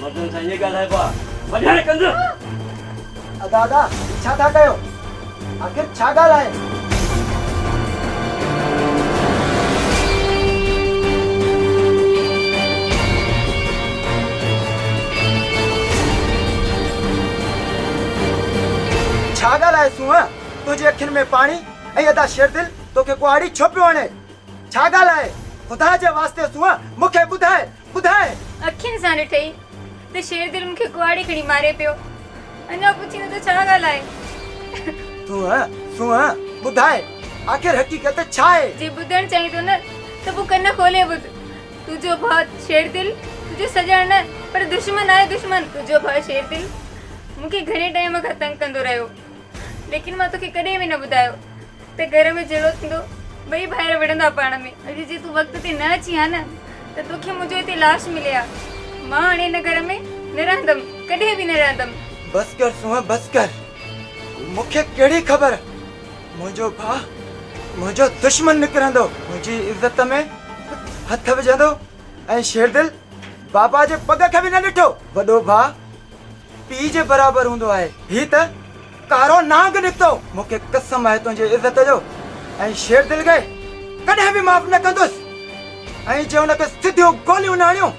مردن سان ائين ڳالهائبو آ وڍائي ڪنڌ. ادا ادا هي ڇا ٿا ڪيو آخر ڇا ڳالهه آهي. ڇا ڳالهه آهي سونهن تنهنجي اکين ۾ پاڻي ۽ ادا شيردل توکي ڪهاڙي ڇو پيو هڻي. ڇا ڳالهه آهي؟ خدا جي واسطي سونهن مون کي ٻڌاء، ٻڌاء! اکين سان ڏٺئي ته شيردل مون کي ڪهاڙي کڻي ماري پيو. اڃا پڇين ته ڇا ڳالهه آهي؟ سونهن، سونهن! ٻڌاء، آخر حقيقت ڇا آهي؟ جي ٻڌڻ چاهين ٿو نه ته پوء ڪن کولي ٻڌ. تنهنجو ڀاء شيردل تنهنجو سڄڻ نه پر دشمن آهي، دشمن! تنهنجو ڀاء شيردل مون کي گهڻي ٽائيم کان تنگ ڪندو رهيو، ليڪن مان توکي ڪڏهن به نه ٻڌايو. ته گهر ۾ جهيڙو ٿيندو، ٻئي ڀائر وڙهندا پاڻ ۾. اڄ جي تون وقت تي نه اچين ها نه ته توکي منهنجو هتي لاش ملي ها. مان هاڻي هن گهر ۾ نه رهندم، ڪڏهن به نه رهندم. بس ڪر سونهن بس ڪر. مون کي ڪهڙي خبر منهنجو ڀاء منهنجو دشمن نڪرندو. منهنجي عزت ۾ هٿ وجهندو ۽ شيردل بابا جي پڳ کي به نه ڏٺو. وڏو ڀاء پيء جي برابر هوندو آهي. هي ته. ڪارو نانگ نڪتو. مون کي قسم آهي تنهنجي عزت جو ۽ شير دل کي ڪڏهن به معاف نه ڪندس ۽ جي ان کي سڌيون گوليون نه هڻيون.